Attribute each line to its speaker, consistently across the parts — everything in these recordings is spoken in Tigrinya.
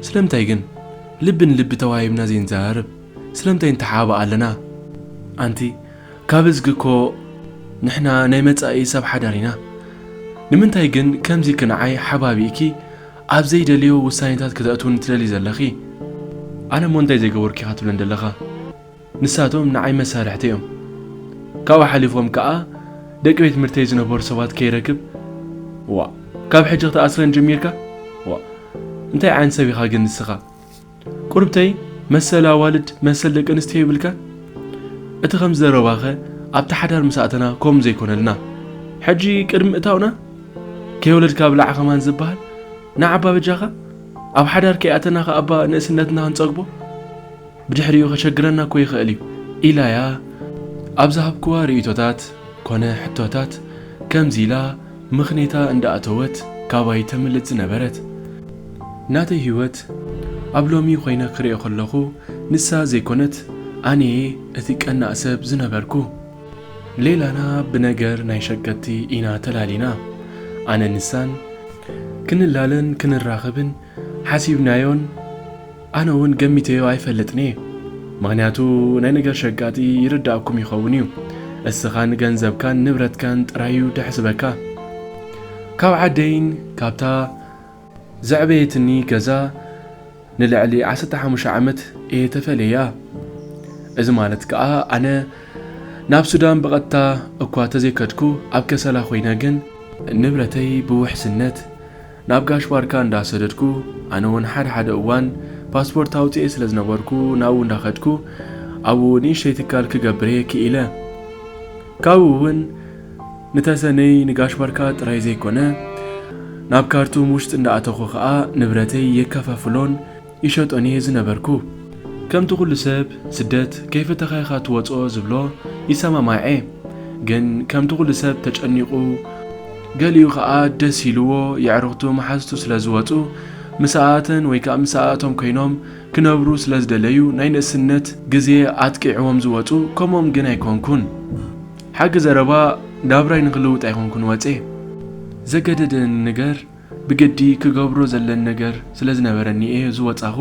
Speaker 1: ስለምንታይ ግን ልቢ ንልቢ ተዋሂብና ዘይንዘራረብ? ስለምንታይ ንተሓባባእ ኣለና? ኣንቲ ካብ እዝጊ እኮ ንሕና ናይ መጻኢ ሰብ ሓዳር ኢና። ንምንታይ ግን ከምዚ ክንዓይ ሓባቢእኪ ኣብ ዘይደልዮ ውሳኔታት ከተእትውኒ ትደልዪ ዘለኺ? ኣነ እሞ እንታይ ዘይገበርኩ ኢኻ ትብለኒ ዘለኻ? ንሳቶም ንዓይ መሳርሕተይ እዮም። ካብኡ ሓሊፎም ከኣ ደቂ ቤት ትምህርተይ ዝነበሩ ሰባት ከይረክብ ዋእ ካብ ሕጂ ክትኣስረን ጀሚርካ ዋእ እንታይ ዓይነት ሰብ ኢኻ ግን ንስኻ ቁርብተይ መሰል ኣዋልድ መሰል ደቂ ኣንስትዮ የብልካን እቲ ከምዚ ዘረባኸ ኣብቲ ሓዳር ምስ ኣተና ከምኡ ዘይኮነልና ሕጂ ቅድሚ ምእታውና ከይወለድካ ብላዕ ከማን ዝበሃል ንዓባ በጃኻ ኣብ ሓዳር ከይኣተና ከኣባ ንእስነትና ክንጸግቦ ብድሕሪኡ ከሸግረና እኮ ይኽእል እዩ ኢላያ ኣብ ዝሃብክዋ ርእይቶታት ኮነ ሕቶታት ከምዚ ኢላ ምኽኒታ እንዳኣተወት ካባይ ተምልጥ ዝነበረት። ናተይ ህይወት ኣብ ሎሚ ኮይነ ክርእዮ ከለኹ ንሳ ዘይኮነት ኣነየ እቲ ቀናእ ሰብ ዝነበርኩ። ሌላና ብነገር ናይ ሸገቲ ኢና ተላሊና። ኣነን ንሳን ክንላለን ክንራኸብን ሓሲብናዮን ኣነ ውን ገሚተዮ ኣይፈልጥን'የ ምኽንያቱ ናይ ነገር ሸቃጢ ይርድኣኩም ይኸውን'ዩ እስኻን ገንዘብካን ንብረትካን ጥራይ'ዩ ደሕስበካ ካብ ዓደይን ካብታ ዘዕበየትኒ ገዛ ንልዕሊ ዓሰርተ ሓሙሽተ ዓመት እየ ተፈልየያ እዚ ማለት ከኣ ኣነ ናብ ሱዳን ብቐጥታ እኳ ተዘይከድኩ ኣብ ከሰላ ኮይነ ግን ንብረተይ ብውሕስነት ናብ ጋሽ ባርካ እንዳ ሰደድኩ ኣነ ውን ሓደ ሓደ እዋን ፓስፖርት ኣውጺኤ ስለ ዝነበርኩ ናብኡ እንዳ ከድኩ ኣብኡ ንእሽተይ ትካል ክገብር'የ ክኢለ ካብኡ ውን ንተሰነይ ንጋሽ ባርካ ጥራይ ዘይኮነ ናብ ካርቱም ውሽጢ እንዳ ኣተኹ ከኣ ንብረተይ የከፋፍሎን ይሸጦን እየ ዝነበርኩ። ከምቲ ኩሉ ሰብ ስደት ከይፈተኻ ኢኻ ትወጽኦ ዝብሎ ይሰማማዕ'የ። ግን ከምቲ ኩሉ ሰብ ተጨኒቑ፣ ገሊኡ ከኣ ደስ ኢልዎ የዕሩኽቱ መሓዙቱ ስለ ዝወጹ ምሳኣተን ወይ ከኣ ምሳኣቶም ኮይኖም ክነብሩ ስለ ዝደለዩ ናይ ንእስነት ግዜ ኣጥቂዕዎም ዝወጹ ከምኦም ግን ኣይኮንኩን። ሓቂ ዘረባ ናብራይ ንኽልውጥ ኣይኮንኩን ወጼ። ዘገደደኒ ነገር ብግዲ ክገብሮ ዘለኒ ነገር ስለ ዝነበረኒ እየ ዝወጻኹ።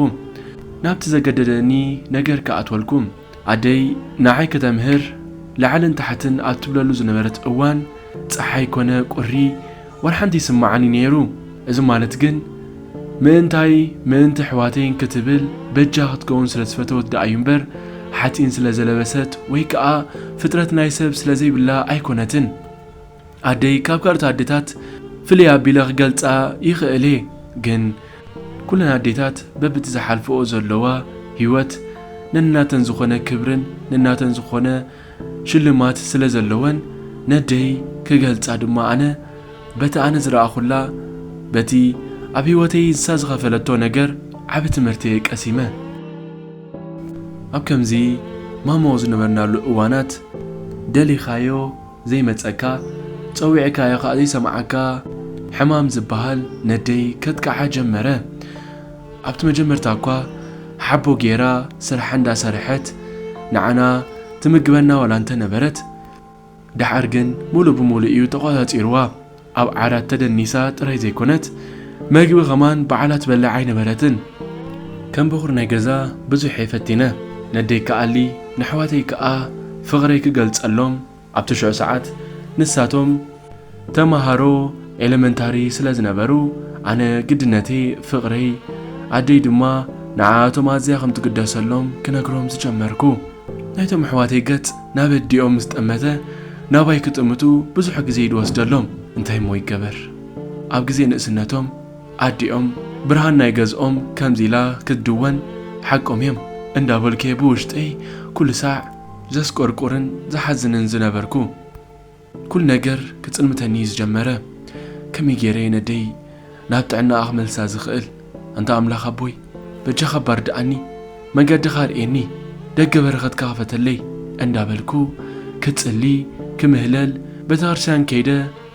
Speaker 1: ናብቲ ዘገደደኒ ነገር ክኣትወልኩ። ኣደይ ንዓይ ክተምህር ላዕልን ታሕትን ኣብ ትብለሉ ዝነበረት እዋን ጸሓይ ኮነ ቁሪ ወርሓንቲ ይስመዓኒ ነይሩ። እዚ ማለት ግን ምእንታይ ምእንቲ ኣሕዋተይን ክትብል በጃ ክትከውን ስለ ዝፈተወት ደኣ እዩ እምበር ሓጺን ስለ ዘለበሰት ወይ ከኣ ፍጥረት ናይ ሰብ ስለ ዘይብላ ኣይኮነትን። ኣደይ ካብ ካልኦት ኣዴታት ፍልይ ኣቢለ ክገልጻ ይኽእል'የ ግን ኩለን ኣዴታት በብቲ ዝሓልፍኦ ዘለዋ ሂወት ነናተን ዝኾነ ክብርን ነናተን ዝኾነ ሽልማት ስለዘለወን ነደይ ክገልጻ ድማ ኣነ በቲ ኣነ ዝረኣኹላ በቲ ኣብ ሂወተይ ንሳ ዝኸፈለቶ ነገር ዓቢ ትምህርቲ'የ ቀሲመ ኣብ ከምዚ ማሞ ዝነበርናሉ እዋናት ደሊኻዮ ዘይመጸካ ጸዊዕካዮ ከኣ ዘይሰምዓካ ሕማም ዝብሃል ነደይ ከጥቅዓ ጀመረ ኣብቲ መጀመርታ እኳ ሓቦ ጌራ ስርሓ እንዳ ሰርሐት ንዓና ትምግበና ዋላ እንተ ነበረት ድሓር ግን ሙሉእ ብሙሉእ እዩ ተቆጻጺርዋ ኣብ ዓራት ተደኒሳ ጥራይ ዘይኮነት መግቢ ከማን ባዕላ ትበልዕ ኣይነበረትን። ከም በኹሪ ናይ ገዛ ብዙሕ'የ ፈቲነ ነደይ ክኣሊ ነሕዋተይ ክኣ ፍቕረይ ክገልጸሎም ኣብ ትሽዑ ሰዓት ንሳቶም ተማሃሮ ኤለመንታሪ ስለ ዝነበሩ ኣነ ግድነተይ ፍቕረይ ኣደይ ድማ ንዓኣቶም ኣዝያ ከም ትግደሰሎም ክነግሮም ዝጀመርኩ። ናይቶም ኣሕዋተይ ገጽ ናብ ኣዲኦም ምስ ጠመተ ናባይ ክጥምቱ ብዙሕ ግዜ እዩ ዝወስደሎም። እንታይ እሞ ይገበር ኣብ ግዜ ንእስነቶም ኣዲኦም ብርሃን ናይ ገዝኦም ከምዚ ኢላ ክትድወን ሓቆም እዮም እንዳበልኩ'የ ብውሽጠይ ኩሉ ሳዕ ዘስቆርቁርን ዝሓዝንን ዝነበርኩ። ኩሉ ነገር ክጽልምተኒ እዩ ዝጀመረ ከመይ ጌረ እየ ነደይ ናብ ጥዕናኣ ክመልሳ ዝኽእል ኣንታ ኣምላኽ ኣቦይ በጃኻ እባ ርድኣኒ መንገድኻ ኣርእየኒ ደገ በረኸትካ ክፈተለይ እንዳበልኩ ክጽሊ ክምህለል ቤተክርስትያን ከይደ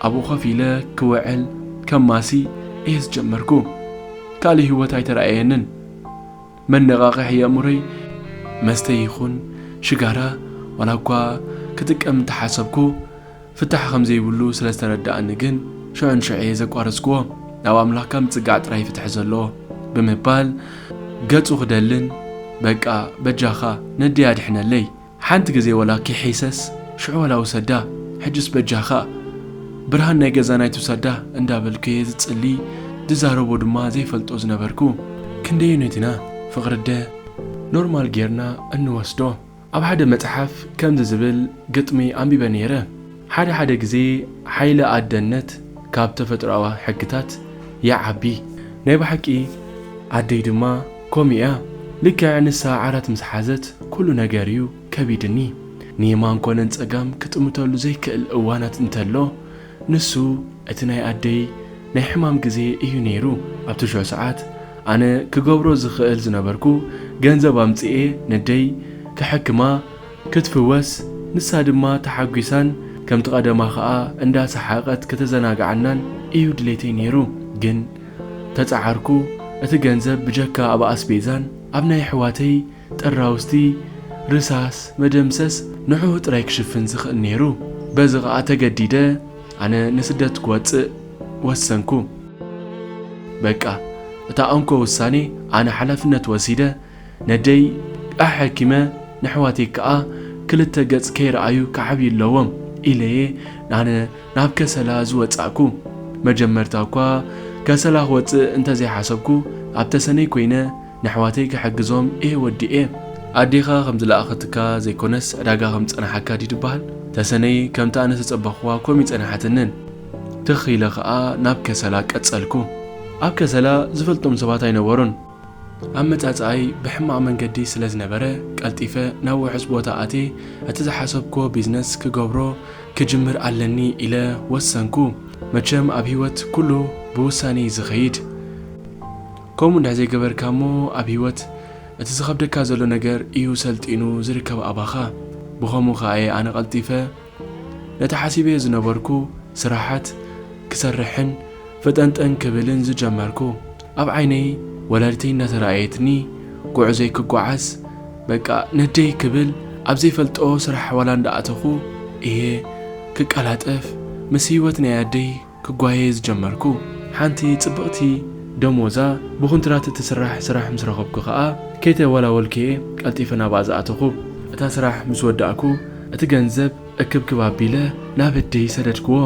Speaker 1: ኣብኡ ኮፍ ኢለ ክውዕል ከማሲ እየ ዝጀመርኩ ካልእ ሂወት ኣይተራእየንን መነቓቕሒ የእምሮይ መስተ ይኹን ሽጋራ ዋላ እኳ ክጥቀም እንተሓሰብኩ ፍታሕ ከም ዘይብሉ ስለ ዝተረድኣኒ ግን ሽዑንሽዑ'የ ዘቋረጽኩዎ። ናብ ኣምላኽካ ምጽጋዕ ጥራይ ፍትሒ ዘለዎ። ብምባል ገጹ ክደልን በቃ በጃኻ ነደይ ኣድሕነለይ! ሓንቲ ግዜ ወላ ኪሒሰስ ሽዑ ወላ ውሰዳ ሕጅስ በጃኻ ብርሃን ናይ ገዛና ኣይትውሰዳ እንዳበልኩ'የ ዝጽሊ ዝዛረቦ ድማ ዘይፈልጦ ዝነበርኩ። ክንደየኖት ኢና ፍቕሪ'ደ ኖርማል ጌርና እንወስዶ? ኣብ ሓደ መጽሓፍ ከምዚ ዝብል ግጥሚ ኣንቢበ ነይረ፣ ሓደ ሓደ ግዜ ሓይሊ ኣደነት ካብ ተፈጥሮኣዊ ሕግታት ይዓቢ። ናይ ብሓቂ ኣደይ ድማ ከምኡ እያ ልክዕ ንሳ ዓራት ምስ ሓዘት ኩሉ ነገር እዩ ከቢድኒ ንየማን ኮነ ንጸጋም ክጥምተሉ ዘይክእል እዋናት እንተሎ ንሱ እቲ ናይ ኣደይ ናይ ሕማም ግዜ እዩ ነይሩ ኣብቲ ሽዑ ሰዓት ኣነ ክገብሮ ዝኽእል ዝነበርኩ ገንዘብ ኣምጺኤ ነደይ ከሐክማ ክትፍወስ ንሳ ድማ ተሓጒሳን ከምቲ ቀደማ ከኣ እንዳ ሰሓቀት ከተዘናግዓናን እዩ ድሌተይ ነይሩ ግን ተጻዓርኩ እቲ ገንዘብ ብጀካ ኣብ ኣስቤዛን ኣብ ናይ ኣሕዋተይ ጥራውስቲ ርሳስ መደምሰስ ንዑኡ ጥራይ ክሽፍን ዝክእል ኔሩ በዚ ከኣ ተገዲደ ኣነ ንስደት ክወጽእ ወሰንኩ በቃ እታ እንኮ ውሳኔ ኣነ ሓላፍነት ወሲደ ነደይ ኣሐኪመ ነሕዋተይ ከኣ ክልተ ገጽ ከይረኣዩ ክዓብዩ ኣለዎም ኢለየ ኣነ ናብ ከሰላ ዝወጻእኩ። መጀመርታ እኳ ከሰላ ክወጽእ እንተ ዘይሓሰብኩ፣ ኣብ ተሰነይ ኰይነ ነሕዋተይ ክሕግዞም እየ ወዲኤ። ኣዴኻ ከም ዝለኣኸትካ ዘይኰነስ ዕዳጋ ከም ዝጸናሓካ ድዩ ዝበሃል? ተሰነይ ከምቲ ኣነ ዝተጸበኹዋ ኮም እይጸናሓትንን። ትኽ ኢለ ከኣ ናብ ከሰላ ቀጸልኩ። ኣብ ከሰላ ዝፈልጦም ሰባት ኣይነበሩን። ኣመጻጽኣይ ብሕማቕ መንገዲ ስለ ዝነበረ፣ ቀልጢፈ ናብ ውሑስ ቦታ ኣትየ እቲ ዝሓሰብክዎ ቢዝነስ ክገብሮ ክጅምር ኣለኒ ኢለ ወሰንኩ። መቸም ኣብ ህይወት ኩሉ ብውሳኔ'ዩ ዝኸይድ። ከምኡ እንድሕር ዘይገበርካ'ሞ ኣብ ህይወት እቲ ዝኸብደካ ዘሎ ነገር እዩ ሰልጢኑ ዝርከብ ኣባኻ። ብኸምኡ ከኣ'የ ኣነ ቀልጢፈ ነቲ ሓሲበዮ ዝነበርኩ ስራሓት ክሰርሕን ፈጠንጠን ክብልን ዝጀመርኩ ኣብ ዓይነይ ወላዲተይ እናተረኣየትኒ ጉዕዞይ ክጓዓዝ በቃ ነደይ ክብል ኣብ ዘይፈልጦ ስራሕ ዋላ እንዳኣተኹ እየ ክቀላጠፍ ምስ ሂወት ናይ ኣደይ ክጓየ ዝጀመርኩ። ሓንቲ ጽብቕቲ ደሞዛ ብኹንትራት እትስራሕ ስራሕ ምስ ረኸብኩ ከኣ ከይተወላወልኩ'የ ቀልጢፈ ናብኣ ዝኣተኹ። እታ ስራሕ ምስ ወዳእኩ እቲ ገንዘብ እክብክብ ኣቢለ ናብ ኣደይ ሰደድክዎ።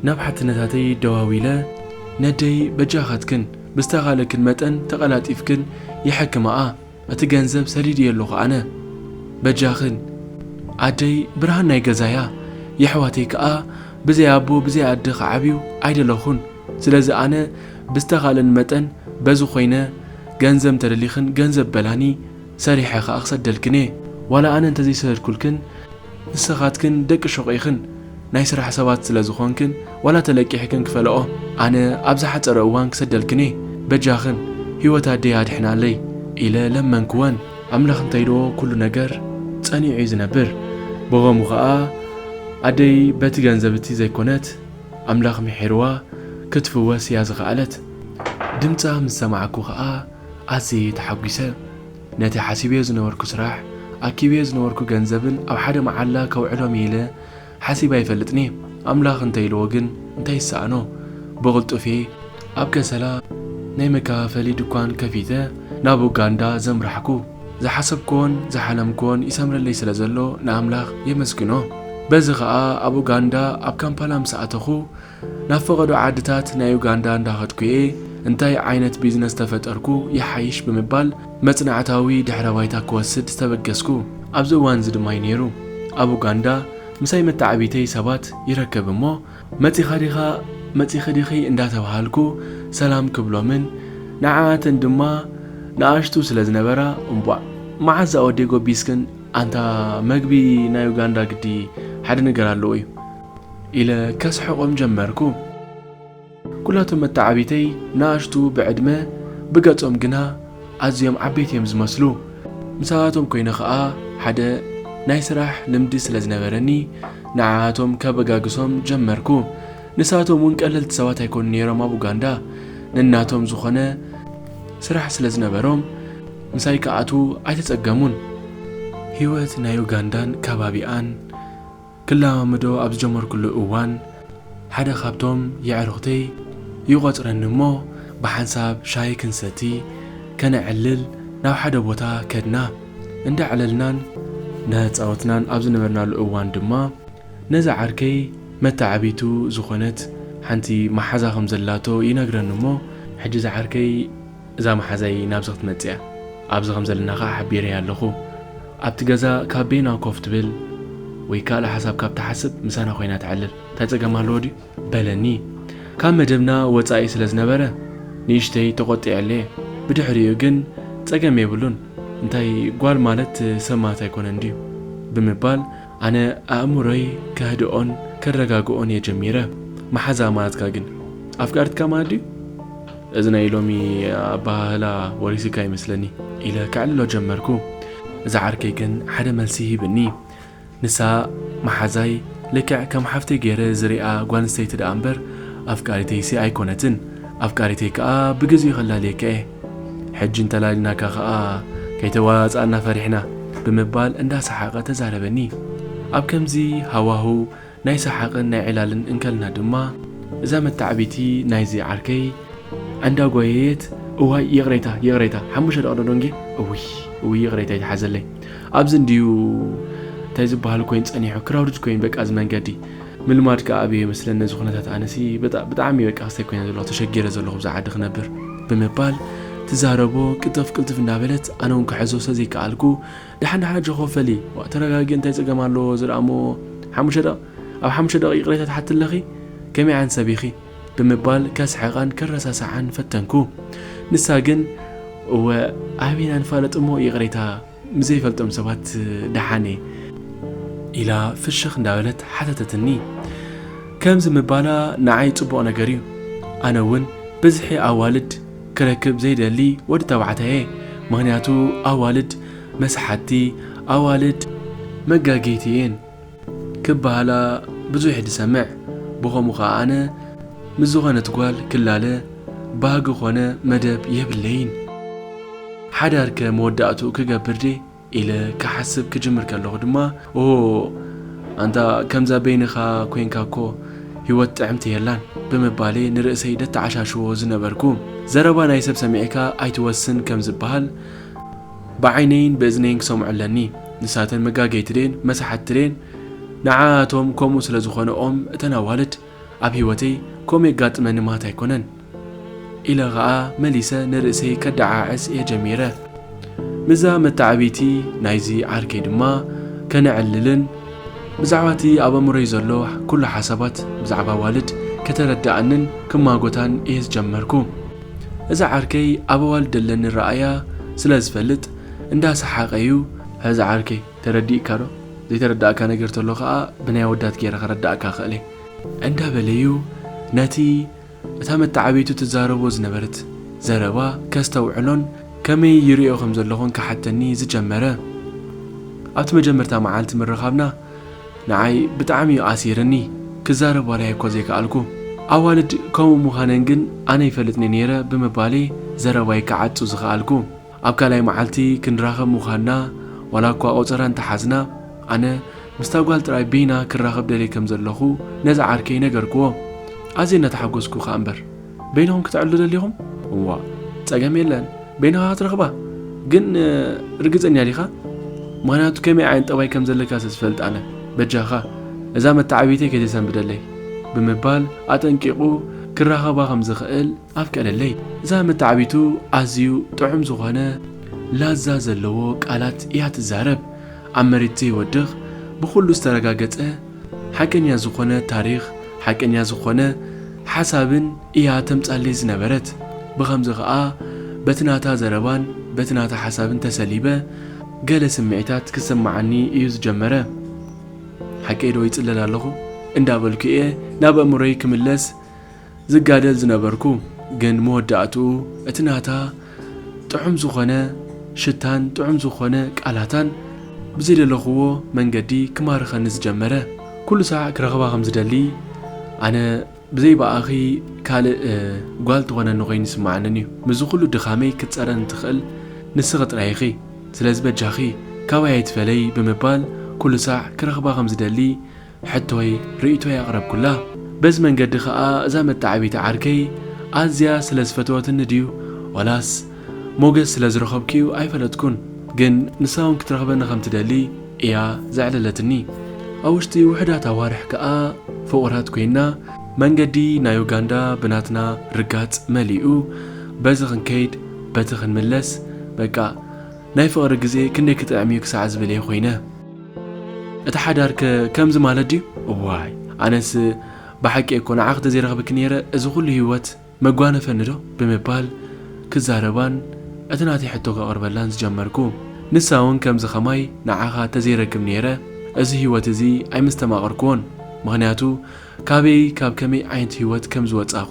Speaker 1: ናብ ሓትነታተይ ደዋዊለ ነደይ በጃኻትክን ብዝተኻእለክን መጠን ተቐላጢፍክን የሐክማኣ። እቲ ገንዘብ ሰዲድዮ ኣለኹ ኣነ በጃኽን። ኣደይ ብርሃን ናይ ገዛያ የሕዋተይ ክኣ ብዘይ ኣቦ ብዘይ ኣደ ክዓብዩ ኣይደለኹን ስለዚ ኣነ ብዝተኻእለኒ መጠን በዚ ኮይነ ገንዘብ እንተደሊኽን ገንዘብ በላኒ ሰሪሐ ክኣ ክሰደልክን እየ ዋላ ኣነ እንተዘይሰደድኩልክን ንስኻትክን ደቂ ሹቕ ኢኽን ናይ ስራሕ ሰባት ስለ ዝኾንክን ዋላ ተለቂሕክን ክፈለኦ ኣነ ኣብ ዝሓጸረ እዋን ክሰደልክን እየ በጃኽን ሂወት ኣደይ ኣድሕናለይ ኢለ ለመንክወን። ኣምላኽ እንተይሎ ኩሉ ነገር ጸኒዑ እዩ ዝነብር ብኸሙ ኸኣ ኣደይ በቲ ገንዘብ እቲ ዘይኮነት ኣምላኽ ምሒርዋ ክትፍወስ እያ ዝኸኣለት ድምጻ ምስ ሰማዕኩ ኸኣ ኣዝየ ተሓጒሰ። ነቲ ሓሲበዮ ዝነበርኩ ስራሕ፣ ኣኪበዮ ዝነበርኩ ገንዘብን ኣብ ሓደ መዓላ ከውዕሎም እየ ኢለ ሓሲበ ኣይፈልጥን'የ። ኣምላኽ እንተ ኢልዎ ግን እንታይ ይሰኣኖ? ብቕልጡፍ'የ ኣብ ከሰላ ናይ መከፋፈሊ ድኳን ከፊተ ናብ ኡጋንዳ ዘምራሕኩ። ዝሓሰብክዎን ዝሓለምክዎን ይሰምረለይ ስለ ዘሎ ንኣምላኽ የመስግኖ። በዚ ከኣ ኣብ ኡጋንዳ ኣብ ካምፓላ ምስ ኣተኹ፣ ናብ ፈቐዶ ዓድታት ናይ ዩጋንዳ እንዳኸድኩ'የ እንታይ ዓይነት ቢዝነስ ተፈጠርኩ ይሓይሽ ብምባል መጽናዕታዊ ድሕረ ባይታ ክወስድ ዝተበገስኩ ኣብዚ እዋን'ዚ ድማ'ዩ ነይሩ። ኣብ ኡጋንዳ ምሳይ መተዓብይተይ ሰባት ይረከብ እሞ መጺኻ ዲኻ መጺኺ ዲኺ እንዳተባሃልኩ ሰላም ክብሎምን ንዓኣተን ድማ ንኣሽቱ ስለ ዝነበራ እምቧእ መዓዝ ኣወደይ ጎቢዝክን ኣንታ መግቢ ናይ ኡጋንዳ ግዲ ሓደ ነገር ኣለዎ'ዩ ኢለ ከስሕቖም ጀመርኩ። ኩላቶም መተዓብይተይ ንኣሽቱ ብዕድመ፣ ብገጾም ግና ኣዝዮም ዓበይቲ እዮም ዝመስሉ። ምሳኣቶም ኮይነ ከኣ ሓደ ናይ ስራሕ ልምዲ ስለ ዝነበረኒ ንዓኣቶም ከበጋግሶም ጀመርኩ። ንሳቶም እውን ቀለልቲ ሰባት ኣይኮኑን ነይሮም ኣብ ኡጋንዳ። ነናቶም ዝኾነ ስራሕ ስለ ዝነበሮም ምሳይ ክኣትዉ ኣይተጸገሙን። ህይወት ናይ ኡጋንዳን ከባቢኣን። ክለማመዶ ኣብ ዝጀመርኩሉ እዋን፣ ሓደ ካብቶም የዕሩኽተይ ይቖጽረኒ እሞ ብሓንሳብ ሻሂ ክንሰቲ ከነዕልል ናብ ሓደ ቦታ ከድና። እንዳዕለልናን እንዳተጻወትናን ኣብ ዝነበርናሉ እዋን ድማ፣ ነዛ ዓርከይ መተዓብይቱ ዝኾነት ሓንቲ መሓዛ ከም ዘላቶ ይነግረኒ እሞ፣ ሕጂ እዛ ዓርከይ፣ እዛ መሓዛይ ናብዚ ክትመጽእ እያ ኣብዚ ከም ዘለና ከኣ ሓቢረያ ኣለኹ ኣብቲ ገዛ ካብ በይና ኮፍ ትብል ወይ ካልእ ሓሳብ ካብ ትሓስብ ምሳና ኮይና ተዕልል እንታይ ጸገም ኣለዎ ድዩ በለኒ ካብ መደብና ወጻኢ ስለ ዝነበረ ንእሽተይ ተቖጢዐለየ ብድሕሪኡ ግን ጸገም የብሉን እንታይ ጓል ማለት ሰማት ኣይኮነን ድዩ ብምባል ኣነ ኣእምሮይ ከህድኦን ከረጋግኦን እየ ጀሚረ መሓዛ ማትካ ግን ኣፍቃርትካ ማለት ድዩ እዚ ናይ ሎሚ ኣበሃህላ ወሪሲካ ይመስለኒ ኢለ ከዕልሎ ጀመርኩ እዛ ዓርከይ ግን ሓደ መልሲ ሂብኒ ንሳ መሓዛይ ልክዕ ከም ሓፍተይ ገይረ ዝሪኣ ጓል ኣንስተይቲ ደኣ እምበር ኣፍቃሪተይሲ ኣይኮነትን ኣፍቃሪተይ ከኣ ብግዚኡ ከላልየካ እየ ሕጂ እንተላልናካ ከኣ ከይተዋጻእና ፈሪሕና ብምባል እንዳ ሰሓቐ ተዛረበኒ። ኣብ ከምዚ ሃዋህው ናይ ሰሓቕን ናይ ዕላልን እንከልና ድማ እዛ መታዕቢቲ ናይዚ ዓርከይ ኣንዳ ጓየየት እዋይ ይቕሬታ ይቕሬታ ሓሙሽተ ደቕዶ ዶንጌ እውይ እውይ ይቕሬታ ይትሓዘለይ ኣብዚ እንድዩ እንታይ ዝበሃል ኮይን ጸኒሑ ክራውድድ ኮይን በቃ እዚ መንገዲ ምልማድ ከኣ ኣብየ መስለን ነዚ ኩነታት ኣነሲ በጣ ብጣዕሚ በቃ ክስተይ ኮይነ ዘለኩ ተሸጊረ ዘለኩ ኣብዛ ዓዲ ክነብር ብምባል ትዛረቦ ቅልጥፍ ቅልጥፍ እንዳበለት ኣነውን ክሕዞ ስለ ዘይከኣልኩ ዳሓን ዳሓን ኣጆኪ ወፈሊ ዋእ ተረጋጊ እንታይ ጸገም ኣለዎ እዚ ደኣ እሞ ሓሙሽተ ደቂ ኣብ ሓሙሽተ ደቂቅ ይቅሬታ ትሓቲ ኣለኪ ከመይ ዓይነት ሰብ ኢኪ ብምባል ከስሕቃን ከረሳሳዓን ፈተንኩ ንሳ ግን እወ ኣበይ ኢና ንፋለጥ እሞ ይቅሬታ ምዘይፈልጦም ሰባት ደሓን'የ። ኢላ ፍሽኽ እንዳበለት ሓተተትኒ። ከምዚ ምባላ ንዓይ ጽቡቕ ነገር'ዩ። ኣነ'ውን ብዝሒ ኣዋልድ ክረክብ ዘይደሊ ወዲ ተባዕታይ'የ። ምኽንያቱ ኣዋልድ መሳሓትቲ፣ ኣዋልድ መጋገይቲ'የን። ክበሃላ ብዙሕ ድሰምዕ ብኸምኡ ከኣ ኣነ ምስ ዝኾነት ጓል ክላለ ባህጊ ኮነ መደብ የብለይን ሓዳር ከ መወዳእትኡ ክገብር ድየ ኢለ ክሓስብ ክጅምር ከለኹ ድማ ኦሆ ኣንታ ከምዛ በይንኻ ኮንካ እኮ ሂወት ጥዕምቲ የላን ብምባለየ ንርእሰይ ደተዓሻሽዎ ዝነበርኩ። ዘረባ ናይ ሰብ ሰሚዕካ ኣይትወስን ከም ዝበሃል፣ ብዓይነይን ብእዝነይን ክሰምዖ ኣለኒ። ንሳተን መጋገይቲ ደየን መሳሓቲ ደየን ንዓኣቶም ከምኡ ስለ ዝኾነኦም እተን ኣዋልድ ኣብ ሂወተይ ከምኡ የጋጥመኒ ማት ኣይኮነን ኢለ ኸኣ መሊሰ ንርእሰይ ከደዓዕስ እየ ጀሚረ። ምስዛ መተዓብይቲ ናይዚ ዓርከይ ድማ ከነዕልልን፣ ብዛዕባ እቲ ኣብ ኣእምሮይ ዘሎ ኩሉ ሓሳባት ብዛዕባ ኣዋልድ ከተረደኣንን ክማጎታን እየ ዝጀመርኩ። እዚ ዓርከይ ኣብ ኣዋልድ ደለኒ ረኣያ ስለ ዝፈልጥ እንዳ ሰሓቀ ዩ። ሕዚ ዓርከይ ተረዲእካ ዶ? ዘይተረዳእካ ነገር ተሎ ከኣ ብናይ ኣወዳት ጌረ ከረዳእካ እኽእል'የ። እንዳ በለ ዩ ነቲ እታ መተዓብይቱ ትዛረቦ ዝነበረት ዘረባ ከስተውዕሎን ከመይ ይርእዮ ከም ዘለኹን ክሓተኒ ዝጀመረ። ኣብቲ መጀመርታ መዓልቲ ምርኻብና፣ ንዓይ ብጣዕሚ እዩ ኣሲርኒ ክዛረብ ዋላ እየ እኮ ዘይከኣልኩ ኣዋልድ ከምኡ ምዃነን ግን ኣነ ይፈልጥኒ ነይረ ብምባል እየ ዘረባይ ክዓጹ ዝኸኣልኩ ኣብ ካልኣይ መዓልቲ ክንራኸብ ምዃንና ዋላ እኳ ቆጸራ እንተሓዝና ኣነ ምስታ ጓል ጥራይ በይና ክራኸብ ደልየ ከም ዘለኹ ነዚ ዓርከይ ነገርክዎ ኣዝየ እናተሓጎስኩ ከኣ እምበር በይንኹም ክትዕሉ ደሊኹም? እዋ ጸገም የለን በይንኻ ክትረኽባ ግን ርግጸኛ ዲኻ? ምክንያቱ ከመይ ዓይነት ጠባይ ከም ዘለካ ስዝፈልጥ ኣነ በጃኻ እዛ መተዓብይተይ ከይተሰንብደለይ ብምባል ኣጠንቂቑ ክራኸባ ከም ዝኽእል ኣፍቀደለይ። እዛ መተዓብይቱ ኣዝዩ ጥዑም ዝኾነ ላዛ ዘለዎ ቃላት እያ ትዛረብ። ኣብ መሬት ዘይወድቕ ብኹሉ ዝተረጋገጸ ሓቀኛ ዝኾነ ታሪኽ ሓቀኛ ዝኾነ ሓሳብን እያ ተምጻለይ ዝነበረት ብኸምዚ ከኣ በቲ ናታ ዘረባን በቲ ናታ ሓሳብን ተሰሊበ ገለ ስምዒታት ክስመዓኒ እዩ ዝጀመረ ሓቀይ ዶ ይጽለል ኣለኹ እንዳበልኩ እየ ናብ ኣእምሮይ ክምለስ ዝጋደል ዝነበርኩ ግን መወዳእትኡ እቲ ናታ ጥዑም ዝኾነ ሽታን ጥዑም ዝኾነ ቃላታን ብዘይደለኹዎ መንገዲ ክማርኸኒ ዝጀመረ። ኩሉ ሳዕ ክረኽባ ከም ዝደሊ ኣነ ብዘይ ብኣኺ ካልእ ጓል ትኾነኒ ኮይኑ ይስምዓንን እዩ ምስዚ ኩሉ ድኻመይ ክትጸረኒ ትኽእል ንስኺ ጥራይ ኢኺ ስለዚ በጃኺ ካባይ ኣይትፈለዪ ብምባል ኩሉ ሳዕ ክረኽባ ከም ዝደሊ ሕቶይ ርእይቶይ ኣቕረብኩላ። በዚ መንገዲ ከኣ እዛ መተዓብይቲ ዓርከይ ኣዝያ ስለ ዝፈተወትኒ ድዩ ዋላስ ሞገስ ስለ ዝረኸብኩ'ዩ ኣይፈለጥኩን ግን ንሳ'ውን ክትረኽበኒ ከም ትደሊ እያ ዘዕለለትኒ። ኣብ ውሽጢ ውሑዳት ኣዋርሕ ከኣ ፍቑራት ኮይንና። መንገዲ ናይ ኡጋንዳ ብናትና ርጋጽ መሊኡ። በዚ ክንከይድ በቲ ክንምለስ በቃ ናይ ፍቕሪ ግዜ ክንደይ ክጥዕም'ዩ ክሳዕ ዝብል'የ ኮይነ። እቲ ሓዳርከ ከምዚ ማለት ድዩ? እዋይ ኣነስ ብሓቂ እኮ ንዓኺ ተዘይረኽብኪ ነይረ እዚ ኩሉ ህይወት መጓነፈኒ ዶ? ብምባል ክዛረባን እቲ ናተይ ሕቶ ከቕርበላን ዝጀመርኩ። ንሳ እውን ከምዚ ከማይ ንዓኻ ተዘይረክብ ነይረ እዚ ህይወት እዚ ኣይምስተማቐርኩዎን። ምኽንያቱ ካበይ ካብ ከመይ ዓይነት ህይወት ከምዝወጻኹ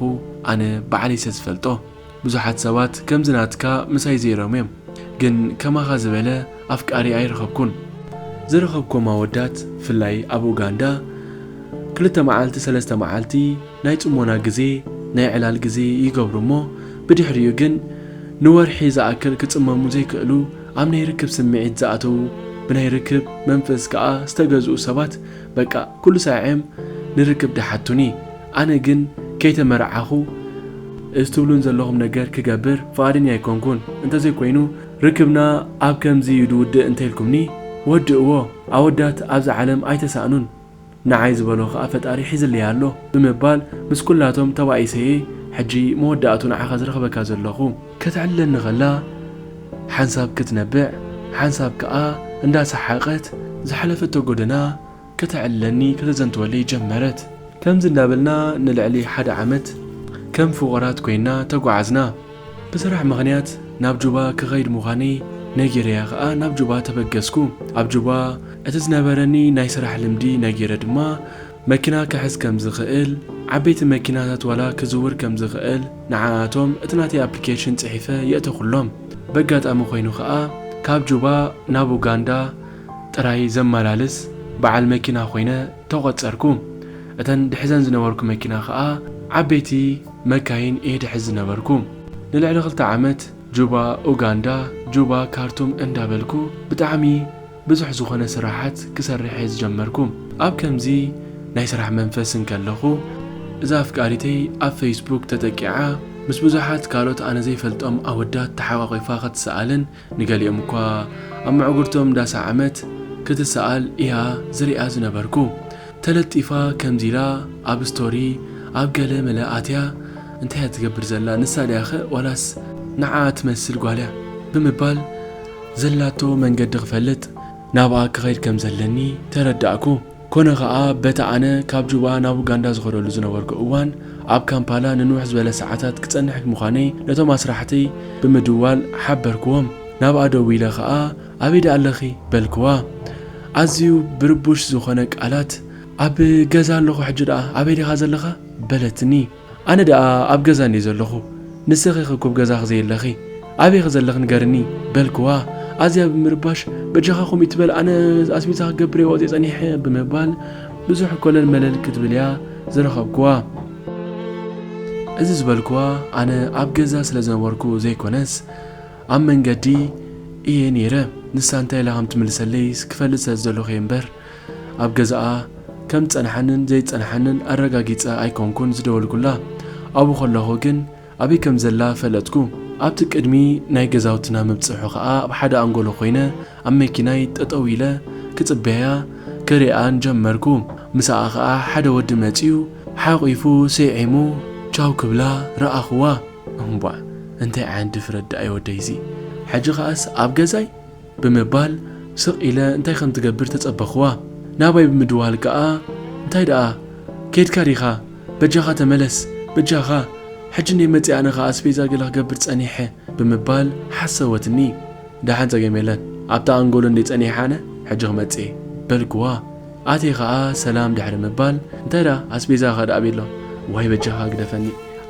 Speaker 1: ኣነ ባዕለይሰ ዝፈልጦ። ብዙሓት ሰባት ከምዚ ናትካ ምሳይ ዘይሮም እዮም ግን ከማኻ ዝበለ ኣፍቃሪ ኣይረኸብኩን። ዝረኸብኮም ኣወዳት ፍላይ ኣብ ኡጋንዳ ክልተ መዓልቲ ሰለስተ መዓልቲ ናይ ጽሞና ግዜ ናይ ዕላል ግዜ ይገብሩ እሞ ብድሕሪኡ ግን ንወርሒ ዝኣክል ክጽመሙ ዘይክእሉ ኣብ ናይ ርክብ ስምዒት ዝኣተዉ ብናይ ርክብ መንፈስ ከኣ ዝተገዝኡ ሰባት በቃ ኩሉ ሳዔም ንርክብ ደሓቱኒ ኣነ ግን ከይተመርዓኹ እዚ ትብሉን ዘለኹም ነገር ክገብር ፍቓደኛ ኣይኮንኩን። እንተዘይኮይኑ ርክብና ኣብ ከምዚ እዩ ዝውድእ እንተኢልኩምኒ ወድእዎ። ኣወዳት ኣብዚ ዓለም ኣይተሳእኑን፣ ንዓይ ዝበሎ ከኣ ፈጣሪ ሒዝለይ ኣሎ ብምባል ምስ ኩላቶም ተባኢሰ'የ ሕጂ መወዳእትኡ ንዓኻ ዝረኽበካ ዘለኹ። ክትዕልለኒ ከላ ሓንሳብ ክትነብዕ ሓንሳብ ከኣ እንዳሰሓቐት ዝሓለፈቶ ጎደና ከተዕልለኒ ከተዘንትወለይ ጀመረት። ከምዚ እንዳበልና ንልዕሊ ሓደ ዓመት ከም ፍቑራት ኮይና ተጓዓዝና። ብስራሕ ምኽንያት ናብ ጁባ ክኸይድ ምዃነይ ነጊረያ ከኣ ናብ ጁባ ተበገስኩ። ኣብ ጁባ እቲ ዝነበረኒ ናይ ስራሕ ልምዲ ነጊረ ድማ መኪና ክሕዝ ከም ዝኽእል፣ ዓበይቲ መኪናታት ዋላ ክዝውር ከም ዝኽእል ንዓኣቶም እቲ ናተይ ኣፕሊኬሽን ጽሒፈ የእተኹሎም። በጋጣሚ ኮይኑ ከኣ ካብ ጁባ ናብ ኡጋንዳ ጥራይ ዘመላልስ በዓል መኪና ኮይነ ተቖጸርኩ። እተን ድሕዘን ዝነበርኩ መኪና ከኣ ዓበይቲ መካይን እየ ድሕዝ ዝነበርኩ። ንልዕሊ ክልተ ዓመት ጁባ ኡጋንዳ፣ ጁባ ካርቱም እንዳበልኩ ብጣዕሚ ብዙሕ ዝኾነ ስራሓት ክሰርሕ እየ ዝጀመርኩ። ኣብ ከምዚ ናይ ስራሕ መንፈስ እንከለኹ እዛ ኣፍቃሪተይ ኣብ ፈይስቡክ ተጠቂዓ ምስ ብዙሓት ካልኦት ኣነ ዘይፈልጦም ኣወዳት ተሓቛቒፋ ክትስኣልን ንገሊኦም እኳ ኣብ ምዕጉርቶም እንዳሰዓመት ክትሰኣል ኢያ ዝሪኣ ዝነበርኩ ተለጢፋ ከምዚ ኢላ ኣብ ስቶሪ ኣብ ገለ መለ ኣትያ እንታይ ኢያ ትገብር ዘላ ንሳ ድያኸ ዋላስ ንዓኣ ትመስል ጓልያ ብምባል ዘላቶ መንገዲ ክፈልጥ ናብኣ ክኸይድ ከምዘለኒ ተረዳእኩ። ኮነ ከኣ በቲ ኣነ ካብ ጁባ ናብ ኡጋንዳ ዝኸደሉ ዝነበርኩ እዋን ኣብ ካምፓላ ንንውሕ ዝበለ ሰዓታት ክጸንሕ ምዃነይ ነቶም ኣስራሕተይ ብምድዋል ሓበርክዎም። ናብኣ ደዊለ ከኣ ኣበይ ደኣ ኣለኺ? በልክዋ። ኣዝዩ ብርቡሽ ዝኾነ ቃላት ኣብ ገዛ ኣለኹ ሕጂ ደኣ ኣበይ ዲኻ ዘለኻ? በለትኒ። ኣነ ደኣ ኣብ ገዛ እንድየ ዘለኹ ንስኺኸ እኩብ ገዛኺ ዘየለኺ ኣበይኺ ዘለኺ ንገርኒ በልክዋ ኣዝያ ብምርባሽ በጃኻ ከምኡ እይትበል ኣነ ኣስቤዛ ክገብር እየ ወፅየ ፀኒሐ ብምባል ብዙሕ ኮለል መለል ክትብል እያ ዝረኸብክዋ እዚ ዝበልክዋ ኣነ ኣብ ገዛ ስለ ዝነበርኩ ዘይኮነስ ኣብ መንገዲ እየ ነይረ ንሳ እንታይ ኢላ ከም ትምልሰለይስ ክፈልጥ ስለ ዝደለኹ እየ እምበር ኣብ ገዛኣ ከም ዝጸንሓንን ዘይጸንሓንን ኣረጋጊጸ ኣይኮንኩን ዝደወልኩላ። ኣብኡ ከለኹ ግን ኣበይ ከም ዘላ ፈለጥኩ። ኣብቲ ቅድሚ ናይ ገዛውትና ምብጽሑ ከኣ ኣብ ሓደ ኣንጎሎ ኮይነ ኣብ መኪናይ ጠጠው ኢለ ክጽበያ ክሪኣን ጀመርኩ። ምሳኣ ከኣ ሓደ ወዲ መጺኡ ሓቂፉ ስዒሙ ቻው ክብላ ረኣኹዋ። እንቧእ እንታይ ዓይነት ድፍረት ደኣዩ ወደይ'ዚ ሕጂ ከኣስ ኣብ ገዛይ? ብምባል ስቕ ኢለ እንታይ ከም ትገብር ተጸበኹዋ። ናባይ ብምድዋል ከኣ እንታይ ደኣ ከይድካ ዲኻ? በጃኻ ተመለስ! በጃኻ! ሕጂ እንድየ መጺኣ ኣነ ከኣ ኣስቤዛ ገለ ክገብር ጸኒሐ ብምባል ሓሰወትኒ። ደሓን ጸገም የለን ኣብታ ኣንጎሎ እንድየ ጸኒሐ ኣነ ሕጂ ክመጽእየ በልኩዋ። ኣትየ ከኣ ሰላም ድሕሪ ምባል እንታይ ደኣ ኣስቤዛ ከድኣቢ'ሎ ዋይ በጃኻ ግደፈኒ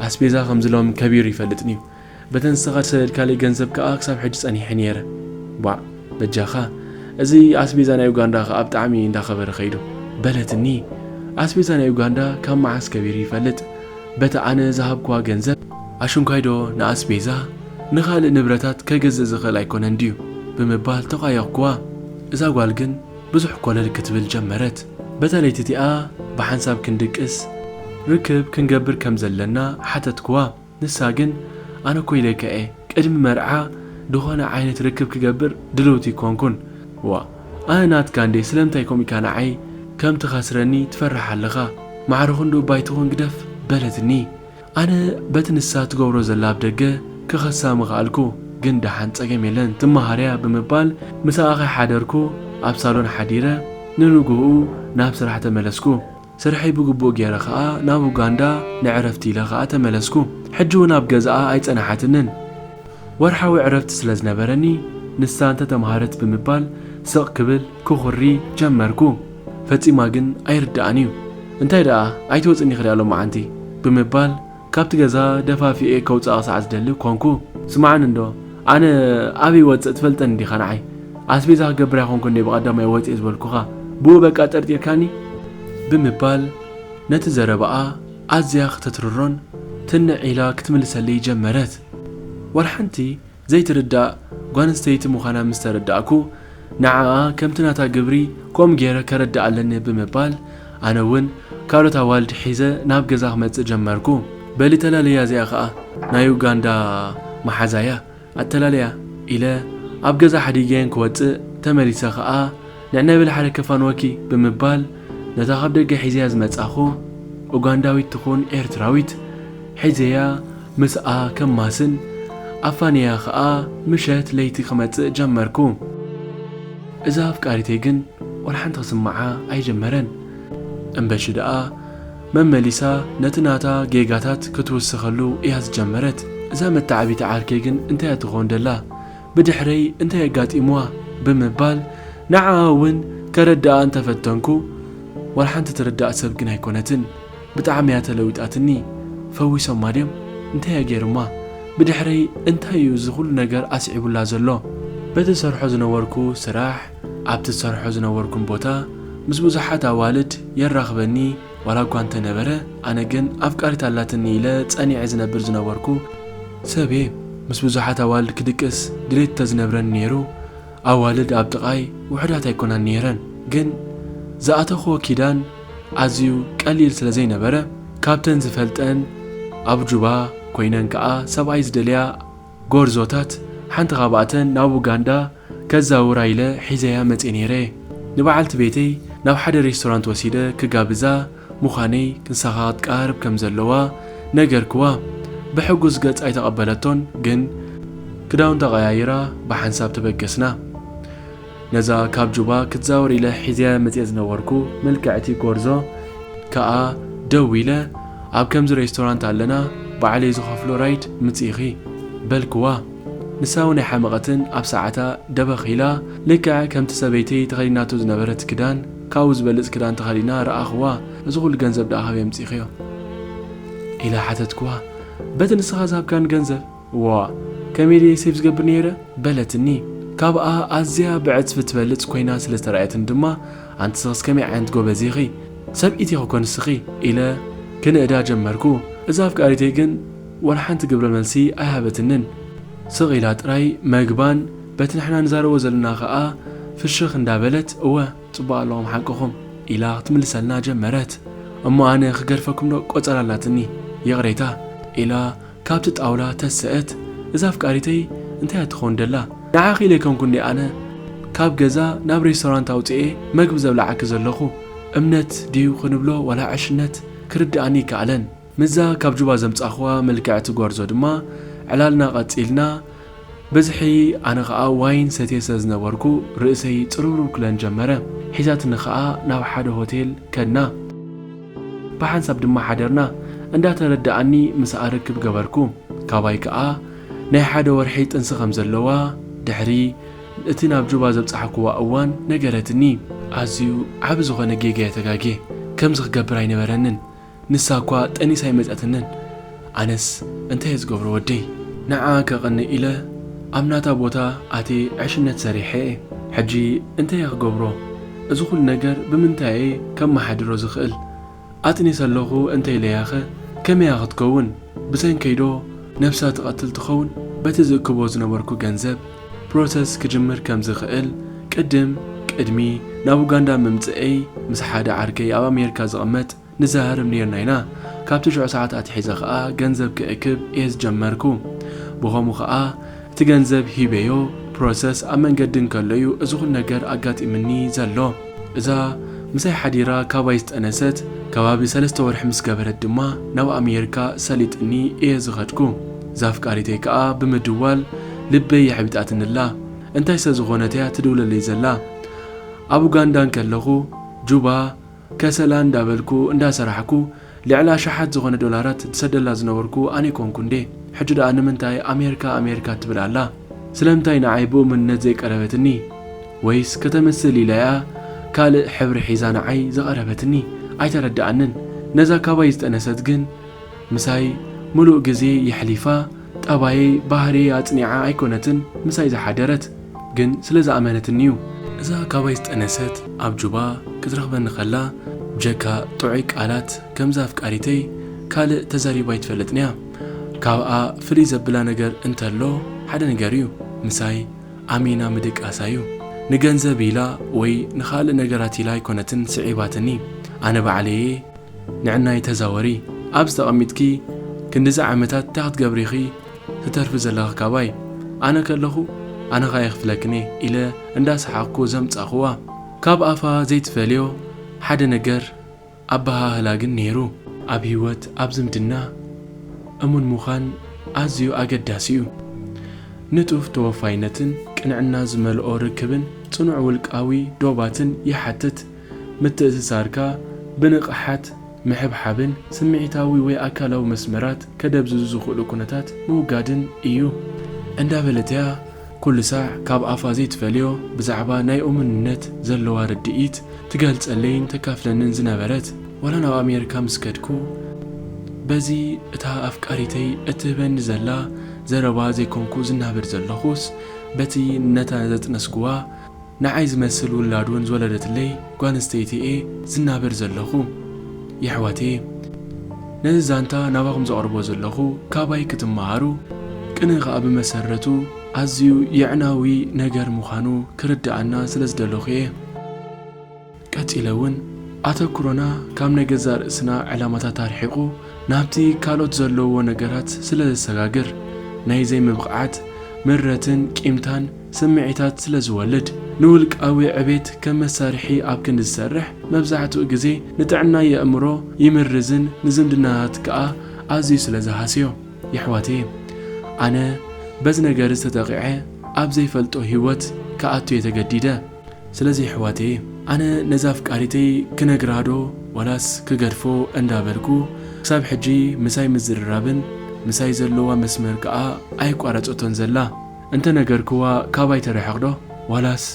Speaker 1: ኣስቤዛ ከምዚ ሎሚ ከቢሩ ይፈልጥን'ዩ በተን ንስኻ ዝሰደድካለይ ገንዘብ ከኣ ክሳብ ሕጂ ጸኒሐ ኔረ ባእ በጃኻ እዚ ኣስቤዛ ናይ ኡጋንዳ ከኣ ብጣዕሚ እንዳኸበረ ከይዱ በለትኒ ኣስቤዛ ናይ ኡጋንዳ ካብ መዓስ ከቢሩ ይፈልጥ በታ ኣነ ዝሃብክዋ ገንዘብ ኣሽንኳይ ዶ ንኣስቤዛ ንኻልእ ንብረታት ከገዝእ ዝኽእል ኣይኮነን ድዩ ብምባል ተቛየቕክዋ እዛ ጓል ግን ብዙሕ ኮለል ክትብል ጀመረት በታ ለይቲ እቲኣ ብሓንሳብ ክንድቅስ ርክብ ክንገብር ከም ዘለና ሓተትክዋ። ንሳ ግን ኣነ እኮ ኢለካ እየ ቅድሚ መርዓ ድኾነ ዓይነት ርክብ ክገብር ድልውቲ ኣይኮንኩን። ዋእ ኣነ ናትካ እንድየ ስለምንታይ ከምኡ ኢልካ ንዓይ ከም ትኸስረኒ ትፈርሕ ኣለኻ ማዕረ ኹን ዶ ባይ ትኹን ግደፍ በለትኒ ኣነ በቲ ንሳ ትገብሮ ዘላ ብ ደገ ክኸሳ ምኸኣልኩ ግን ደሓን ጸገም የለን ትመሃር እያ ብምባል ምሳኣ ከይሓደርኩ ኣብ ሳሎን ሓዲረ ንንግሆኡ ናብ ስራሕ ተመለስኩ። ስርሐይ ብግቡእ ጌረ ከኣ ናብ ኡጋንዳ ንዕረፍቲ ኢለ ከኣ ተመለስኩ። ሕጂ ውን ኣብ ገዛኣ ኣይጸናሓትንን። ወርሓዊ ዕረፍቲ ስለ ዝነበረኒ ንሳ እንተ ተመሃረት ብምባል ስቕ ክብል፣ ክኹሪ፣ ጀመርኩ። ፈጺማ ግን ኣይርድኣን'ዩ። እንታይ ደኣ ኣይትወጽእን ኢኺ ደኣ ሎማዓንቲ? ብምባል ካብቲ ገዛ ደፋፊኤ ከውጽኣ ክሳዕ ዝደሊ ኰንኩ። ስምዓኒ እንዶ፣ ኣነ ኣበይ እወጽእ ትፈልጠኒ ዲኻ ንዓይ? ኣስቤዛ ክገብር ኣይኰንኩን እንድየ ብቐዳማይ ወጺኤ ዝበልኩኻ። ብኡ በቃ ጠርጢርካኒ? ብምባል ነቲ ዘረባኣ ኣዝያ ከተትርሮን ትንዕ ኢላ ክትምልሰለይ ጀመረት። ዋላ ሓንቲ ዘይትርዳእ ጓልንስተይቲ ምዃና ምስ ተረዳእኩ፣ ንዓኣ ከምቲ ናታ ግብሪ ከምኡ ገይረ ከረድኣ ኣለኒ ብምባል፣ ኣነ እውን ካልኦት ኣዋልድ ሒዘ ናብ ገዛ ክመጽእ ጀመርኩ። በሊ ተላለያ እዚኣ ከኣ ናይ ኡጋንዳ መሓዛ እያ፣ ኣተላልያ ኢለ ኣብ ገዛ ሓዲገየን ክወጽእ ተመሊሰ ከኣ፣ ነነብል ሓደ ከፋንወኪ ብምባል ነታ ካብ ደገ ሒዘያ ዝመጻኹ ኡጋንዳዊት ትኹን ኤርትራዊት ሒዘያ ምስኣ ከማስን ኣፋንየያ ከኣ ምሸት ለይቲ ክመጽእ ጀመርኩ። እዛ ኣፍቃሪተይ ግን ወላሓንቲ ክስምዓ ኣይጀመረን እምበሺ ደኣ መመሊሳ ነቲ ናታ ጌጋታት ክትውስኸሉ እያ ዝጀመረት። እዛ መታዓቢቲ ዓርከይ ግን እንታያ ትኾን ደላ? ብድሕረይ እንታይ ኣጋጢምዋ ብምባል ንዓኣ እውን ከረድኣ እንተፈተንኩ ዋላሓንቲ ትርዳእ ሰብ ግን ኣይኮነትን ብጣዕሚ እያ ተለዊጣትኒ ፈዊሶማ ድዮም እንታይ እየ ገይርማ ብድሕረይ እንታይ እዩ እዚ ኩሉ ነገር ኣስዒቡላ ዘሎ በቲ ዝሰርሖ ዝነበርኩ ስራሕ ኣብቲ ዝሰርሖ ዝነበርኩም ቦታ ምስ ብዙሓት ኣዋልድ የራኽበኒ ዋላ እኳ እንተ ነበረ፣ ኣነ ግን ኣፍቃሪት ኣላትኒ ኢለ ጸኒዐ ዝነብር ዝነበርኩ ሰብ እየ። ምስ ብዙሓት ኣዋልድ ክድቅስ ድሌት እንተ ዝነብረኒ ነይሩ፣ ኣዋልድ ኣብ ጥቓይ ውሑዳት ኣይኰናን ነይረን። ግን ዝኣተኽዎ ኪዳን ኣዝዩ ቀሊል ስለ ዘይነበረ፣ ካብተን ዝፈልጠን ኣብ ጁባ ኰይነን ከኣ ሰብኣይ ዝደልያ፣ ጎርዞታት፣ ሓንቲ ካብኣተን ናብ ኡጋንዳ ከዛውራ ኢለ ሒዘያ መጼ ነይረ። ንበዓልቲ ቤተይ ናብ ሓደ ሬስቶራንት ወሲደ ክጋብዛ ምዃነይ ክንሳኻ ክትቀራረብ ከም ዘለዋ ነገርክዋ። ብሕጉስ ገጽ ኣይተቐበለቶን ግን ክዳውንታ ቀያይራ ብሓንሳብ ተበገስና። ነዛ ካብ ጁባ ክትዛወር ኢለ ሒዘያ መጽየ ዝነበርኩ ምልክዕቲ ጎርዞ ከኣ ደዊለ ኣብ ከምዚ ሬስቶራንት ኣለና ባዕለይ ዝኸፍሎ ራይድ ምጺኢኺ በልክዋ። ንሳውን ኣይሓመቐትን ኣብ ሰዓታ ደበኽ ኢላ ልክዕ ከምቲ ሰበይተይ ተኸዲናቶ ዝነበረት ክዳን ካብኡ ዝበልጽ ክዳን ተኸዲና ረኣኽዋ። እዚ ኩሉ ገንዘብ ደኣ ካበይ ኣምጺእክዮ? ኢለ ሓተትክዋ። በቲ ንስኻ ዝሃብካኒ ገንዘብ። እዋ ከመይ ድየ ሴቭ ዝገብር ነይረ? በለትኒ። ካብኣ ኣዝያ ብዕጽፊ ትበልጽ ኰይና ስለ ዝተራእየትኒ ድማ፣ ኣንቲ ስኽስ ከመይ ዓይነት ጐበዝ ኢኺ! ሰብኢት ኢኺ'ኮ ንስኺ! ኢለ ክንእዳ ጀመርኩ። እዛ ኣፍቃሪተይ ግን ዋላ ሓንቲ ግብረ መልሲ ኣይሃበትንን። ስቕ ኢላ ጥራይ መግባን በቲ ንሕና ንዛረቦ ዘለና ከኣ ፍሽኽ እንዳ በለት፣ እወ ጽቡቕ ኣለኹም ሓቅኹም፣ ኢላ ክትምልሰልና ጀመረት። እሞ ኣነ ክገርፈኩም'ዶ ቆጸራ ኣላትኒ፣ ይቕሬታ፣ ኢላ ካብቲ ጣውላ ተሰእት እዛ ኣፍቃሪተይ እንታይ እያ ትኸውን ደላ ንዓኺ ኢለ ኣይኮንኩን ድየ ኣነ ካብ ገዛ ናብ ሬስቶራንት ኣውጺኤ መግቢ ዘብልዓኪ ዘለኹ እምነት ድዩ ክንብሎ ዋላ ዕሽነት ክርድኣኒ ኣይከኣለን ምስዛ ካብ ጁባ ዘምጻኹዋ ምልክዕቲ ጎርዞ ድማ ዕላልና ቀጺልና ብዝሒ ኣነ ከኣ ዋይን ሰትየ ስለ ዝነበርኩ ርእሰይ ጽርውርው ክለን ጀመረ። ሒዛትኒ ከኣ ናብ ሓደ ሆቴል ከድና። ብሓንሳብ ድማ ሓደርና። እንዳ ተረደኣኒ ምሳኣ ርክብ ገበርኩ። ካባይ ከኣ ናይ ሓደ ወርሒ ጥንሲ ከም ዘለዋ ድሕሪ እቲ ናብ ጁባ ዘብጻሕኩዋ እዋን ነገረትኒ። ኣዝዩ ዓቢ ዝኾነ ጌጋ'የ ተጋግየ። ከምዚ ክገብር ኣይነበረንን። ንሳ እኳ ጠኒሳ ኣይመጸትንን ኣነስ እንታየ ዝገብሮ ወደይ ንዓኣ ከቅንእ ኢለ ኣብ ናታ ቦታ ኣትየ ዕሽነት ሰሪሐ እየ ሕጂ እንታየ ክገብሮ እዚ ኩሉ ነገር ብምንታይ እየ ከማሓድሮ ዝክእል ኣጥኒሰ ኣለኩ እንተ ኢለያከ ከመይ እያ ክትከውን ብሰንከይዶ ነብሳ ትቀትል ትከውን በቲ ዝእክቦ ዝነበርኩ ገንዘብ ፕሮሰስ ክጅምር ከም ዝኽእል ቅድም ቅድሚ ናብ ኡጋንዳ ምምጽእይ ምስ ሓደ ዓርከይ ኣብ ኣሜርካ ዝቕመጥ ንዛሃርብ ኔርና ኢና ካብ ትሽዑ ሰዓት ኣትሒዘ ከኣ ገንዘብ ክእክብ እየ ዝጀመርኩ ብኸሙ ከኣ እቲ ገንዘብ ሂበዮ ፕሮሰስ ኣብ መንገዲ እንከሎ እዩ እዚ ኩሉ ነገር ኣጋጢምኒ ዘሎ እዛ ምሳይ ሓዲራ ካባይ ዝጠነሰት ከባቢ ሰለስተ ወርሒ ምስ ገበረት ድማ ናብ ኣሜርካ ሰሊጥኒ እየ ዝኸድኩ። እዛ ኣፍቃሪተይ ከኣ ብምድዋል ልበይ የሕቢጣትኒ ኣላ። እንታይ ስለ ዝኾነት እያ ትድውለለይ ዘላ? ኣብ ኡጋንዳ እንከለኹ ጁባ፣ ከሰላ እንዳበልኩ እንዳሰራሕኩ ልዕሊ ኣሽሓት ዝኾነ ዶላራት ድሰደላ ዝነበርኩ ኣነ ኮንኩ እንዴ ሕጂ ድኣ ንምንታይ ኣሜርካ ኣሜርካ ትብል ኣላ ስለምንታይ ንዓይ ብእሙንነት ዘይቀረበትኒ ወይስ ከተምስል ኢላ እያ ካልእ ሕብሪ ሒዛ ንዓይ ዝቀረበትኒ ኣይተረደኣንን ነዛ ካባይ ዝጠነሰት ግን ምሳይ ምሉእ ግዜ የሕሊፋ ጠባየይ ባህርየይ ኣጽኒዓ ኣይኮነትን ምሳይ ዝሓደረት ግን ስለ ዝኣመነትኒ ዩ። እዛ ካባይ ዝጠነሰት ኣብ ጁባ ክትረኽበኒ ከላ ብጀካ ጥዑይ ቃላት ከምዛ ኣፍቃሪተይ ካልእ ተዛሪባ ኣይትፈልጥን እያ። ካብኣ ፍልይ ዘብላ ነገር እንተሎ ሓደ ነገር ዩ ምሳይ ኣሚና ምድቃሳ ዩ። ንገንዘብ ኢላ ወይ ንኻልእ ነገራት ኢላ ኣይኮነትን ስዒባትኒ ኣነ ባዕለይ እየ። ንዕናይ ተዛወሪ ኣብዚ ተቀሚጥኪ ክንድዚ ዓመታት ታይ ክትገብሪ ኢኺ ትተርፊ ዘለኺ ካባይ ኣነ ከለኹ ኣነ ካኣ ይኽፍለክንየ ኢለ እንዳ ሰሓቅኩ ዘምጻእኽዋ ካብ ኣፋ ዘይትፈልዮ ሓደ ነገር ኣበሃህላ ግን ኔሩ። ኣብ ሂወት ኣብ ዝምድና እሙን ምዃን ኣዝዩ ኣገዳሲ እዩ። ንጡፍ ተወፋይነትን ቅንዕና ዝመልኦ ርክብን ጽኑዕ ውልቃዊ ዶባትን ይሓትት። ምትእስሳርካ ብንቕሓት ምሕብሓብን ስምዒታዊ ወይ ኣካላዊ መስመራት ከደብዝዙ ዝኽእሉ ኩነታት ምውጋድን እዩ። እንዳበለት እያ ኩሉ ሳዕ ካብ ኣፋ ዘይትፈልዮ ብዛዕባ ናይ እሙንነት ዘለዋ ርድኢት ትገልጸለይን ተካፍለንን ዝነበረት። ዋላ ናብ ኣሜሪካ ምስ ከድኩ በዚ እታ ኣፍቃሪተይ እትህበኒ ዘላ ዘረባ ዘይኮንኩ ዝናበር ዘለኹስ በቲ ነታ ዘጥነስኩዋ ንዓይ ዝመስል ውላድ ውን ዝወለደትለይ ጓል ኣንስተይቲ እየ ዝናበር ዘለኹ የሕዋተየ ነዚ ዛንታ ናባኹም ዘቕርቦ ዘለኹ ካባይ ክትመሃሩ ቅነ ከኣ ብመሰረቱ ኣዝዩ የዕናዊ ነገር ምዃኑ ክርደኣና ስለ ዝደለኹ እየ። ቀጺለ እውን ኣተኩሮና ካብ ናይ ገዛእ ርእስና ዕላማታት ኣርሒቑ ናብቲ ካልኦት ዘለውዎ ነገራት ስለ ዘሰጋግር፣ ናይ ዘይምብቕዓት፣ ምረትን ቂምታን ስምዒታት ስለ ዝወልድ፣ ንውልቃዊ ዕቤት ከም መሳርሒ ኣብ ክንዲ ዝሰርሕ መብዛሕትኡ ግዜ ንጥዕና የእምሮ ይምርዝን ንዝምድናታት ከኣ ኣዝዩ ስለ ዝሃስዮ። የሕዋተየ ኣነ በዚ ነገር እዚ ተጠቒዐ ኣብ ዘይፈልጦ ሂወት ክኣቱ'የ ተገዲደ። ስለዚ የሕዋተየ ኣነ ነዛ ኣፍቃሪተይ ክነግራ ዶ ዋላስ ክገድፎ እንዳ በልኩ ክሳብ ሕጂ ምሳይ ምዝርራብን ምሳይ ዘለዋ መስመር ከኣ ኣይቋረጸቶን ዘላ እንተ ነገርክዋ ካባይ ትርሕቅ ዶ ዋላስ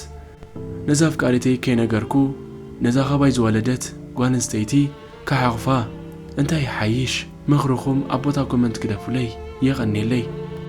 Speaker 1: ነዛ ኣፍቃሪተይ ከይነገርኩ ነዛ ካባይ ዝወለደት ጓልንስተይቲ ክሓቁፋ እንታይ ይሓይሽ ምክርኩም ኣብ ቦታ ኮመንት ግደፉለይ የቀኔለይ።